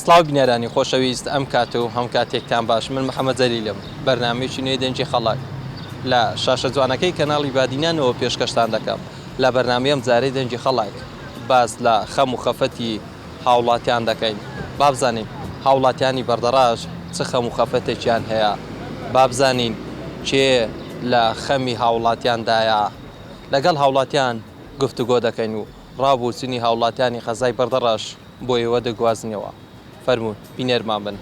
سڵاو بینەرانی خۆشەویست ئەم کات و هەم کاتێکتان باش من محمد جەلیلم بەرنامەیەکی نوێی دەنگی خەڵک لە شاشە جوانەکەی کەناڵی بادینا نەوە پێشکەشتان دەکەم لە بەرنامەی ئەم جارەی دەنگی خەڵک باس لە خەم و خەفەتی هاوڵاتیان دەکەین بابزانین هاوڵاتیانی بەردەڕاش چ خەم و خەفەتێکیان هەیە بابزانین کێ لە خەمی هاوڵاتیان دایە لەگەڵ هاوڵاتیان گفتوگۆ دەکەین و ڕاو بۆچونی هاوڵاتیانی قەزای بەردەڕەش بۆ ئێوە دەگوازنەوە فەرموون بینەرمان بن.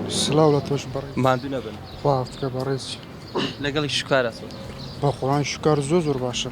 سلاو لە تۆش بڕ مادو نەبن خواافکە بەڕێزی لەگەڵی شکارەتون بەخۆان شکار زۆ زۆر باشە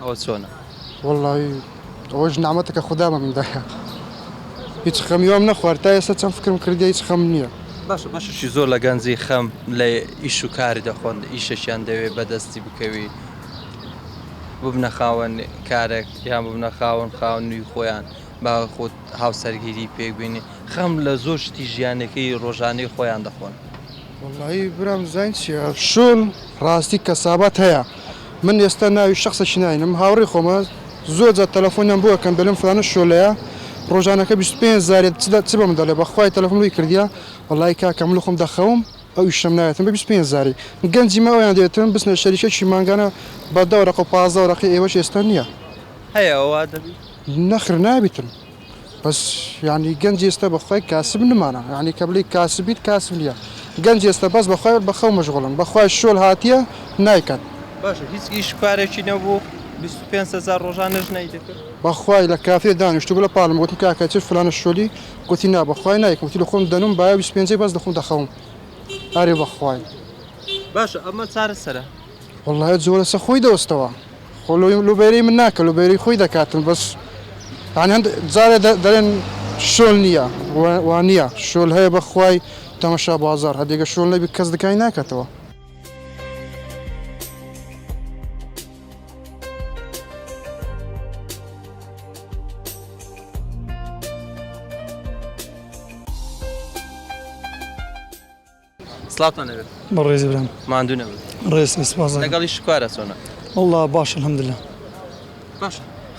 ئەوە چۆنە؟ وەڵڵا ئەوەش نامەتەکە خودا بە من دایە هیچ خەمی وام نەخوارد تا ئێستا چەند فکرم کردیە هیچ خەمم نیە. باشە بەشێکی زۆر لە گەنجی خەم لە ئیش و کاری دەخۆن ئیشێکیان دەوێ بەدەستی بکەوی ببنە خاوەن کارێک یان ببنە خاوەن خانوی خۆیان با خۆت هاوسەرگیری پێک بێنی خەم لە زۆر شتی ژیانەکەی ڕۆژانەی خۆیان دەخۆن. وەڵڵایی برام زانیت چیە شوون ڕاستی کەسابات هەیە من ئێستا ناوی شەخسەکی ناینم هاوڕێی خۆمە زۆر جار تەلەفۆنیان بۆ ئەکەم دەلێم فلانە شۆلەیە ڕۆژانەکە بیست و پێنج جارێ چ چ بەمن دەڵێ بەخوای تەلەفۆنم لێی کردیە وەڵایی کاکە من لەخۆم دەخەوم ئەو ئیشەم نایەتم بە بیست و پێنج جاری گەنجی من ئەویان دەیەتم بچنە شەریکەکی مانگانە بە دە وەرەقە و پازدە وەرەقەی ئێوەش ئێستا نیە. هەیە ئەوە دەبیت؟ نەخر نابیتم. بەس یانی گەنج ئێستە بەخوای کاسب نمانا یانی کە بڵێی کاسب بیت کاسب نیە گەنج ئێستە بەس بەخوای بەخەو مەشغوڵن بەخوای شۆل هاتیە نایکات. باشە هیچ ئیش کارێکی نەبوو بیست و پێنج هەزار ڕۆژانەش نەیدەکرد. بەخوای لە کافێ دانیشتبوو لە پاڵم گۆتم کاکە چل فلانە شۆلی گۆتی نا بەخوای نایکەم گۆتی لەخۆم دەنووم بایە بیست و پێنجەی بەس لەخۆم دەخەوم ئەرێ بەخوای. باشە ئەمە چارەسەرە؟ وەڵڵا جۆ لەسە خۆی دۆستەوە خۆ لۆ لۆ بەیرەی من ناکە لۆ بەیرەی خۆی دەکاتن بەس یانی هەند جارێ دە دەرێن شۆل نییە وە وانییە شۆل هەیە بەخوای تەمەشا بازاڕ هەر دێگە شۆل نەبی کەس دکای ناکەتەوە. سڵاوتان لێ بێت بەڕێز برام ماندوو نەبن ڕێز سپاس لەگەڵی شکوارە چۆنە والله باش الحمد لله باش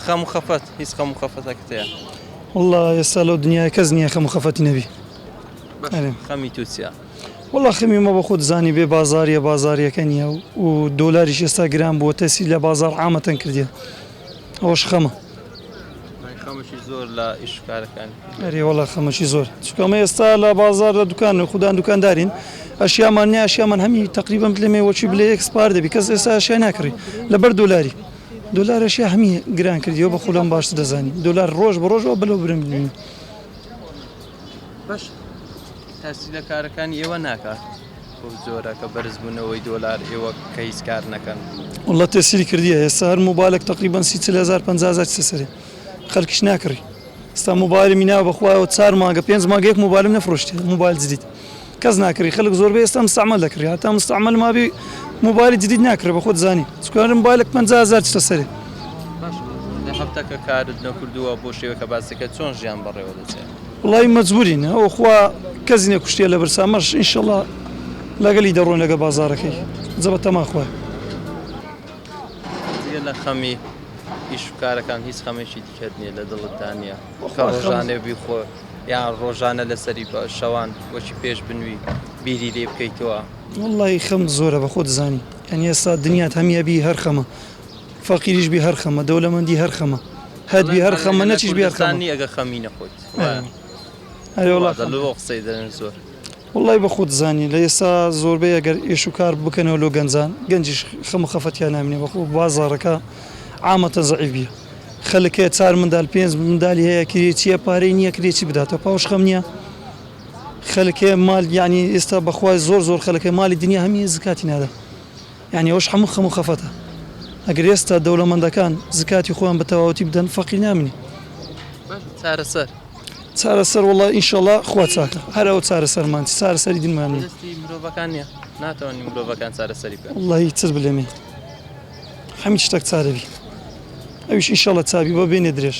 خەم و خەفەت هیچ خەم و خەفەتەکەت هەیە والله ئێستا لەو دنیای کەس نییە خەم و خەفەتی نەبی خەمی تو چیە والله خەمی مە بە خۆت زانی بێ بازاریە بازاریەکە نییە و دۆلاریش ئێستا گران بووە تەسی لە بازار ئامەتەن کردیە ئەوەش خەمە خەمەکی زۆر لە ئیش کارەکان ئەری وڵا خەمەکی زۆر چکەمە ئێستا لە بازار لە دوکان و خوددان دوکاندارین ئەشیامان نیا ئەشیامان هەمی تقریبم لەمێ وەچی بلێ ئەکسپار دەبی کەس ئێستا ئەشیا ناکڕی لەبەر دۆلاری دۆلارەشی هەمی گران کردیەوە بە خولم باش دەزانانی دۆلار ڕۆژ بە ڕۆژەوە بلو برم ببینی باش تاسی لە کارەکانی ئێوە ناکات بەو جۆرە کە بەرز بونەوەی دۆلار ئێوە کە هیچ کار نەکەن. واللە تەسیری کردیە هێستا هەر موبالەک تەقریبەن سی چل هەزار پەنجا هەزار چتە سەری خەلکیش ناکڕی ئێستا موبالمی ناوە بەخوایەوە چار مانگە پێنج مانگە یەک موبالم نەفرۆشتیە موبال جدید کەس ناکری خەلک زۆربەی ئێستا مستەعمەل دەکری هەتا مستەعمەل مابی موبالی جدید ناکرێ بەخۆت زانی چکو هەر موبالەک پەنجا هەزار چتە سەری. باشە بۆ ئەو هەفتە کە کارت نەکردووە بۆ شێوەکە باس دەکەت چۆن ژیان بەڕێوە دەچێت؟ وەڵایی مەجبورین ئەوە خوا کەس نیە کوشتیە لەبرسا ئەمەش ان شاءاللە لەگەلی دەڕۆین لەگە بازارەکەی جە بە تەما خوا. جگە لە خەمی ئیش و کارەکان هیچ خەمێکی دیکەت نیە لە دڵتدا نیە کە ڕۆژانێ بیخۆ یان ڕۆژانە لەسەری بە شەوان وەکی پێش بنوی بیری لێ بکەیتەوە. وەڵایی خەم زۆرە بەخۆت دەزانی یانی ئێستا دنیات هەمی ئەبی هەر خەمە فەقیریش بی هەر خەمە دەولەمەندی هەر خەمە هەت بی هەر خەمە نەچیش بی هەر خەمە نی ئەگە خەمی نەخۆیت ئەرێ وەڵا دەڵێ بۆ قسەی دەرن زۆر وڵی بە خۆت زانی لە ئێستا زۆربەی ئەگەر ئێش و کار بکەنەوە لۆ گەنجان گەنجیش خەم و خەفەتیان نامێ بەخۆ بازاڕەکە عامەتە زەعیف بیە خەلک هەیە چار مندال پێنج مندالی هەیە کرێ چیە پارەی نییە کرێ چی بداتەوە پاوش خەم نییە خەلکێ مال یعنی ئێستا بەخوای زۆر زۆر خەلکە مالی دنیا هەمیە زکاتی نادا یانی ئەوەش هەموو خەم و خەفەتە. ئەگەر ئێستا دەولەمەندەکان زکاتی خۆیان بە تەواوەتی بدەن فەقیر نامنی. باشە چارەسەر؟ چارەسەر وەڵا ئینشەڵا خوا چاکە هەر ئەوە چارەسەرمان چ چارەسەری دینمان نیە. دەستی مرۆڤەکان نیە ناتوانین مرۆڤەکان چارەسەری بکەن. وەڵاهی چت بلێمێ هەمیچ شتەک چارە بی ئەویش ئینشەڵا چابی بە بێنێ درێژ.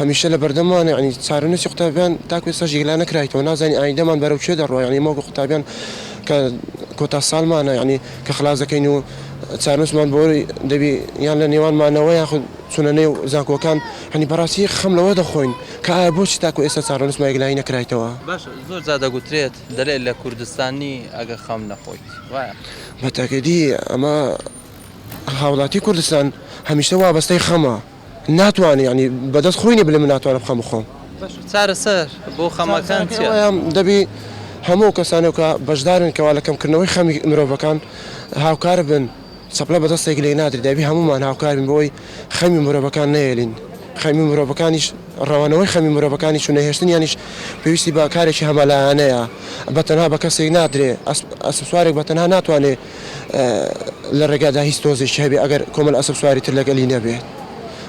هەمیشە لەبەردەممانە یانی چارەنوسی قوتابیان تاکو ئێستاش یەکلا نەکرایتەوە نازانی ئایندەمان بەرەو کوێ دەڕوا یانی ئێمە وەکو قوتابیان کە کۆتا ساڵمانە یانی کە خلاس دەکەین و چارەنوسمان بۆ دەبی یان لە نێوانمانەوە یاخود چونە نێو زانکۆکان هەنی بەڕاستی خەم لەوە دەخۆین کە ئایا بۆچی تاکو ئێستا چارەنوسمان یەکلایی نەکرایتەوە. باشە زۆر جار دەگوترێت دەلێت لە کوردستان نی ئەگە خەم نەخۆیت وایە؟ بە تاکیدی ئەمە هاوڵاتی کوردستان هەمیشە وابەستەی خەمە. ناتوانم یانی بەدەست خۆی نیە بلێ من ناتوانم خەم بخۆم. باشە چارەسەر بۆ خەمەکان چیە؟ چارەسەرەکەی ئەوەیە دەبی هەموو ئەو کەسانەو کە بەشدارن کەوا لە کەم کردنەوەی خەمی مرۆڤەکان هاوکار بن چەپلە بە دەستێک لێی نادرێ دەبی هەموومان هاوکار بین بۆی خەمی مرۆڤەکان نەیەلین خەمی مرۆڤەکانیش رەوانەوەی خەمی مرۆڤەکانیش و نەهێشتنیانیش پێویستی بە کارێکی هەمە لایەنەیە بە تەنها بە کەسێک نادرێ ئەسپ ئەسپ سوارێک بە تەنها ناتوانێ لە ڕێگادا هیچ تۆزێکی هەبێ ئەگەر کۆمەل ئەسپ سواری تر لەگەلی نەبێ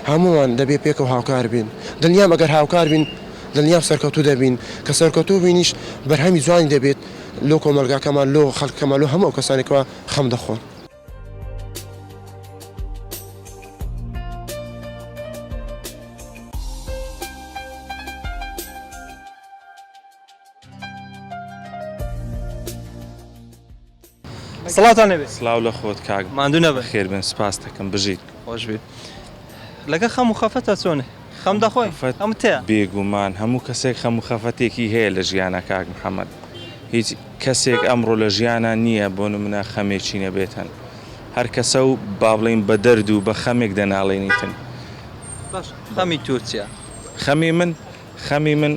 هەمووان دەبێ پێکەوە هاوکار بین دڵنیام ئەگەر هاوکار بین دڵنیام سەرکەوتوو دەبین کە سەرکەوتوو بوینیش بەرهەمی جوانی دەبێت لۆ کۆمەلگاکەمان لۆ خەلکەکەمان لۆ هەموو ئەو کەسانەی کەوا خەم دەخۆن. سڵاتانەوێت سلااو لە خۆت کاک ماندو نەبە خێربن سپاس دەکەم بژیت خۆشبێت لەگە خەم و خەفەتە چۆنێ خەم دەخۆی ئەم تێ بێگومان هەموو کەسێک خەم و خەفەتێکی هەیە لە ژیانە کاک محەممەد هیچ کەسێک ئەمڕۆ لە ژیانە نییە بۆ منە خەمێکی نەبێتن هەر کەسە و با بڵین بە دەرد و بە خەمێک دەناڵێنیتن خەمی تورکیا خەمی من خەمی من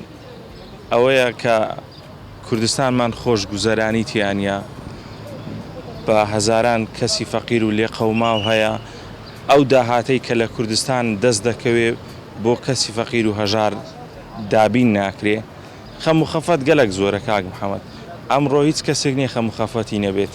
ئەوەیە کە کوردستانمان خۆش گوزەرانی تیا نیە بە هەزاران کەسی فەقیر و لێقەوماو هەیە ئەو داهاتەی کە لە کوردستان دەست دەکەوێ بۆ کەسی فەقیر و هەژار دابین ناکرێ خەم و خەفەت گەلەک زۆرە کاک محمد ئەمڕۆ هیچ کەسێک نیە خەم و خەفەتی نەبێت.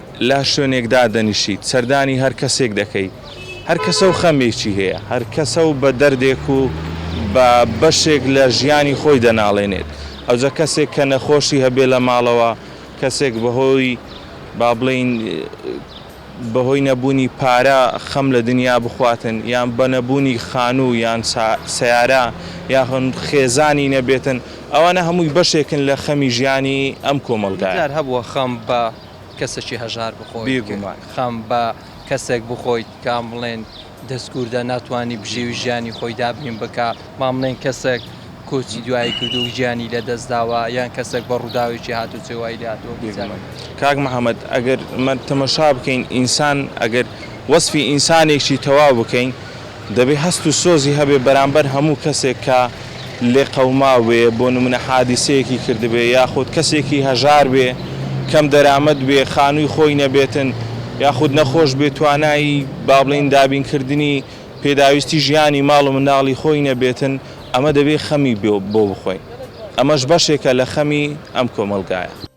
لە شوێنێک دادەنیشیت سەردانی هەر کەسێک دەکەی، هەر کەسە و خەمێکی هەیە، هەر کەسە و بە دەردێک و بە بەشێک لە ژیانی خۆی دەناڵێنێت، ئەوجە کەسێک کە نەخۆشی هەبێت لە ماڵەوە، کەسێک بەهۆی با بڵێین بەهۆی نەبوونی پارە خەم لە دنیا بخواتن، یان بە نەبوونی خانوو یان سەیارە یاخود خێزانی نەبێتن، ئەوانە هەمووی بەشێکن لە خەمی ژیانی ئەم کۆمەڵگایە. چەند جار هەبووە خەم بە کەسەکی هەژار بخۆیت بێگومان خەم بە کەسێک بخۆیت کام بڵێن دەستکوردە ناتوانانی بژێوی ژیانی خۆی دابین بکە مام بڵێن کەسێک کۆچی دوایی کردو گیانی لە دەست داوە یان کەسێک بە ڕووداوێکی هاتو چێوای لاتەوە بێگومان کاک محمد ئەگەر تەمەشا بکەین ئینسان ئەگەر وەسفی ئینسانێکی تەواو بکەین دەبێ هەست و سۆزی هەبێ بەرامبەر هەموو کەسێک کە لێقەوماوبێ، بۆ نموونە حادیسەیەکی کردبێ، یاخود کەسێکی هەژار بێ، کەم دەرامەت بێ، خانووی خۆی نەبێتن، یاخود نەخۆش بێ، توانای با بڵێین دابینکردنی پێداویستی ژیانی ماڵ و منداڵی خۆی نەبێتن، ئەمە دەبێ خەمی بۆ بخۆین. ئەمەش بەشێکە لە خەمی ئەم کۆمەڵگایە.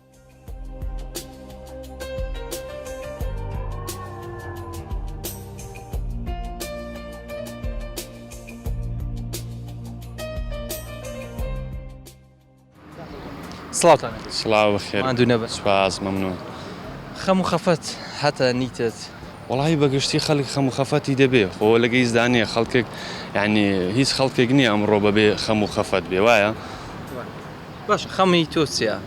سڵاوتان سڵاو بەخێر ماندوو نەبە سپاس مەمنون خەم و خەفەت هەتا نیتت وڵی بەگشتی خەڵک خەم و خەفەتی دەبێ خۆ لە گەیزدانێ خەڵکێک یعنی هیچ خەڵکێک نییە ئەمڕۆ بەبێ خەم و خەفەت بێ وایە باشە خەمی تۆ چیە؟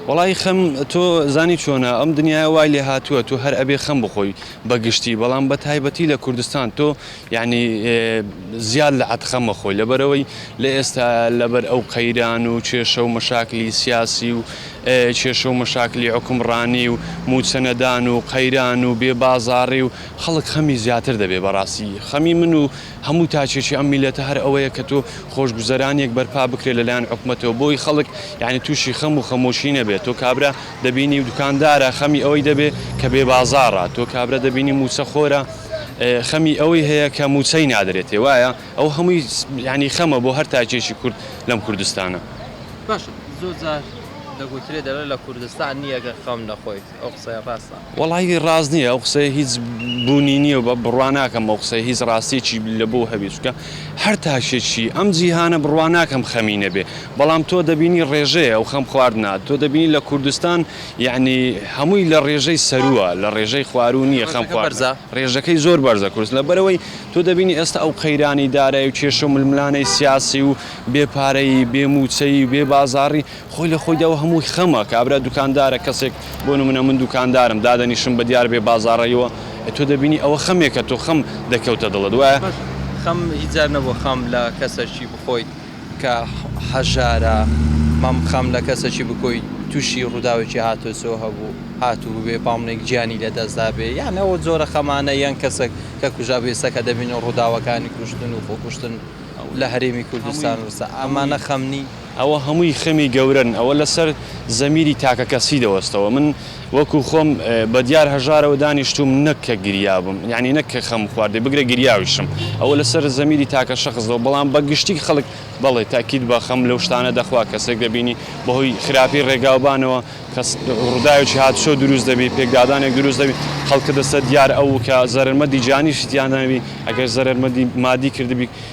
وەڵایی خەم تۆ زانی چۆنە ئەم دنیایە وای لێ هاتووە تۆ هەر ئەبێ خەم بخۆی بە گشتی بەڵام بە تایبەتی لە کوردستان تۆ یعنی زیاد لە عەت خەم مەخۆی لەبەرەوەی لە ئێستا لەبەر ئەو قەیران و کێشە و مەشاکلی سیاسی و کێشە و مەشاکلی حکومڕانی و موچەنەدان و قەیران و بێ بازاڕی و خەڵک خەمی زیاتر دەبێ بەڕاستی خەمی من و هەموو تاکێکی ئەم میلەتە هەر ئەوەیە کە تۆ خۆشگوزەرانیەک بەرپا بکرێت لە لایەن حکومەتەوە بۆی خەڵک یانی توشی خەم و خەمۆکی نەبێت تۆ کابرا دەبینی دوکاندارە خەمی ئەوەی دەبێ کە بێ بازاڕە تۆ کابرا دەبینی موچە خۆرە خەمی ئەوەی هەیە کە موچەی نادرێتێ وایە ئەوە هەمووی یانی خەمە بۆ هەر تاکێکی کورد لەم کوردستانە. باشە زۆر جار دەگوترێ دەڵێ لە کوردستان نیە گەر خەم نەخۆیت ئەو قسەیە ڕاستە؟ وەڵایی ڕاست نییە ئەو قسەیە هیچ بوونی نییە و بە بڕوا ناکەم ئەو قسەیە هیچ ڕاستیەکی لە بۆ هەبێ چونکە هەر تاکێکی ئەم جیهانە بڕوا ناکەم خەمی نەبێ بەڵام تۆ دەبینی ڕێژەیە ئەو خەم خواردنە تۆ دەبینی لە کوردستان یەعنی هەمووی لە ڕێژەی سەرووە لە ڕێژەی خواروو نییە خەم خواردنە ڕێژەکەی زۆر بەرزە کورس لەبەرەوەی تۆ دەبینی ئێستا ئەو قەیرانی دارای و کێشە و ململانێی سیاسی و بێ پارەیی بێ مووچەیی و بێ بازاڕی خۆی لە خۆیدا و هەمووی خەمە، کابرا دوکاندارە، کەسێک بۆ نمونە من دوکاندارم، دادەنیشم بە دیار بێ بازاڕەییەوە، ئێ تۆ دەبینی ئەوە خەمێکە، تۆ خەم دەکەوتە دڵت، وایە؟ خەم هیچ جار نەبووە خەم لە کەسەکی بخۆیت کە هەژارە، مەم خەم لە کەسەکی بکۆیت تووشی ڕووداوێکی هاتۆچۆ هەبوو، هاتووبێ با منێک گیانی لە دەست دابێ، یان ئەو جۆرە خەمانە، یان کەسەک کە کوژابێ، ئێستا کە دەبینن ڕووداوەکانی کوشتن و خۆکوشتن لە هەرێمی کوردستان و ئەمانە خەم نی؟ ئەوە هەمووی خەمی گەورەن ئەوە لەسەر زەمیری تاکەکەسی دەوەستەوە من وەکو خۆم بەدیار هەژارەوە دانیشتووم نەک کە گریابم یانی نەک کە خەم خواردبێ بگرە گریاویشم ئەوە لەسەر زەمیری تاکە شەخس دەوە بەڵام بە گشتی خەڵک بەڵێ تاکید بە خەم لەو شتانە دەخوا کەسێک دەبینی بەهۆی خراپی ڕێگاوبانەوە کەس ڕوداوێکی هاتوچۆ دروست دەبی پێکدادانێک دروست دەبی خەڵکە دەستە دیار ئەوو کە زەرەرمەدی جانیشی تیاندانەبی ئەگەر زەرەرمەدی مادی کردبی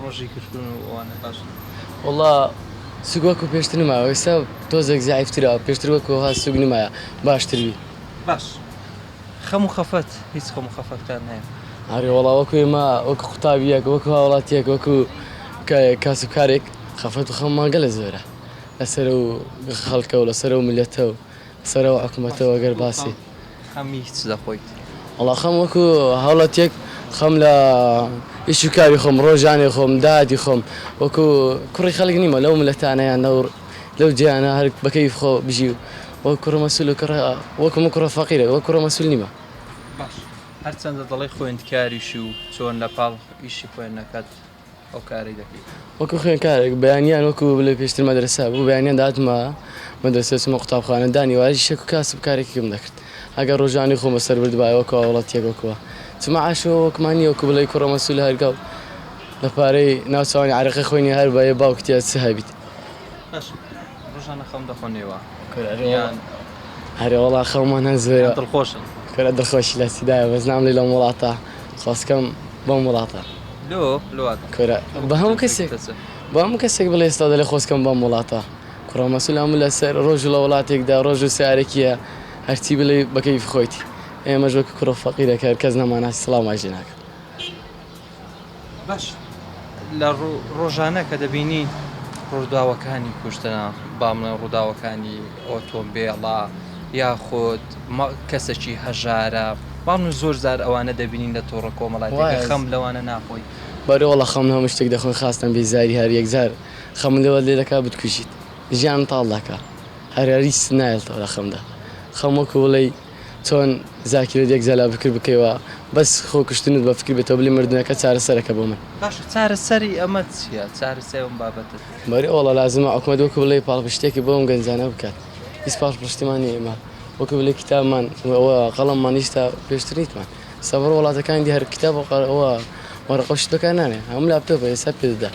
ڕۆژی کشتون و ئەوانە باشن. وەڵا سوک وەکو پێشتر نمایەوە ئیستا تۆزێک زەعیف ترە پێشتر وەکو ئەوها سوک نمایە باشتر بی. باش خەم و خەفەت هیچ خەم و خەفەت کار نایە. ئەرێ وەڵا وەکو ئێمە وەکو قوتابیەک وەکو هاوڵاتیەک وەکو کاسب کارێک خەفەت و خەممان گەلە زۆرە لەسەر ئەو خەڵکە و لەسەر ئەو میلەتە و. سەرە و حکومەتە و گەر باسی. خەمی چ دەخۆیت؟ وەڵا خەم وەکو هاوڵاتیەک خەم لە ئیش و کاری خۆم ڕۆژانەی خۆم داهاتی خۆم وەکو کوڕی خەلک نیمە لەو ملەتانە یان لەو لەو جیانە هەر بە کەیف خۆ بژی و وەک کوڕە مەسول و کوڕە وەکو من کوڕە فەقیرێک وەک کوڕە مەسول نیمە. باش هەرچەندە دەڵێی خوێندکاریش و چۆن لەپاڵ ئیشی خوێندنەکەت. ئەو کارەی دەکەیت؟ وەکو خوێندکارێک بەیانیان وەکو بڵێ پێشتر مەدرسە بوو بەیانیان داتمە مەدرسە چمە قوتابخانە دانی وایش شێک و کاسب کارێکم دەکرد ئەگەر ڕۆژانی خۆم بەسەر بردبایە وەکو هاوڵاتیەک وەکوە چ معاش و وەکمان نیە وەکو بڵێی کوڕە مەسول هەرگاو لە پارەی ناوچوانی عەرەقەی خۆینی هەر بەیە باوکتیە چ هەبیت. ڕۆژانە خەوم دەخۆنێوە کورە یان هەرێ وەڵا خەومان هەزێ یان دڵخۆشم کورە دڵخۆشی لە سیدایە بەس ناملی لەم وڵاتە خۆزکەم بەم وڵاتە لۆ لۆ واتە کورە بە هەموو کەسێک تەسە بە هەموو کەسێک بڵێ ئێستا دەلێ خۆزکەم بەم وڵاتە کوڕە مەسول ئەمن لەسەر ڕۆژ لە وڵاتێکدا ڕۆژ و سارێکیە هەرچی بلێ بەکەیف خۆیتی ئێمەش وەک کوڕە فەقیرەکە کەس نەماناسی سڵاومان لێ ناکەن. بەش لە ڕۆژانە کە دەبینی ڕووداوەکانی کوشتنە با بڵێن ڕووداوەکانی ئۆتۆمبێڵە یاخود کەسێکی هەژارە بەڵام زۆر زار ئەوانە دەبینین لە تۆڕە کۆمەڵایەتیەکان خەم لەوانە ناخۆی. بەرێ وەڵا خەم لە هەموو شتێک دەخۆم خاستەن بیزاری هەر یەکجار خەمم لەوە لێ دەکا بتکوژیت ژیانم تاڵ دەکا هەر هەر هیچت نایڵتەوە لە خەمدا خەم وەکوو بڵێی چۆن زاکیرە دێک زالا بکر بکەی وا بەس خۆ کوشتنت بە فکر بێتەوە بلی مردنەکە چارە سەرەکە بۆ من. باشە چارە سەری ئەمە چیە چارە سەی ئەم بابەتە چیە. بەری ئۆڵە لازمە ئۆکمەت وەکو بلێی پاڵپشتێکی بۆ ئەم گەنجانە بکات هیچ پاڵپشتمان نیە ئیمە وەکو بلێی کیتابمان وە قەڵەممان هیچ تا پێشتر نیتمان سەبەر وڵاتەکانی دی هەر کیتاب وە قە وە وەڕەقەو شت بەکار نانێن هەموو لاپتۆپە ئێستا پێ دەدات.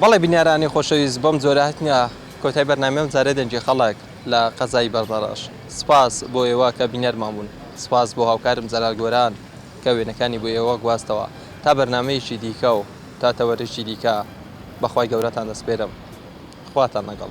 بەڵێ بینەرانی خۆشەویست بەم جۆرە هەتنە کۆتای بەرنامەی ئەم جارەی دەنگی خەڵک لە قەزای بەردەڕەش سپاس بۆ ئێوە کە بینەرمان بوون سپاس بۆ هاوکارم جەلال گۆران کە وێنەکانی بۆ ئێوە گواستەوە تا بەرنامەیەکی دیکە و تا تەوەرێکی دیکە بەخوای گەورەتان دەسپێرم خواتان لەگەڵ.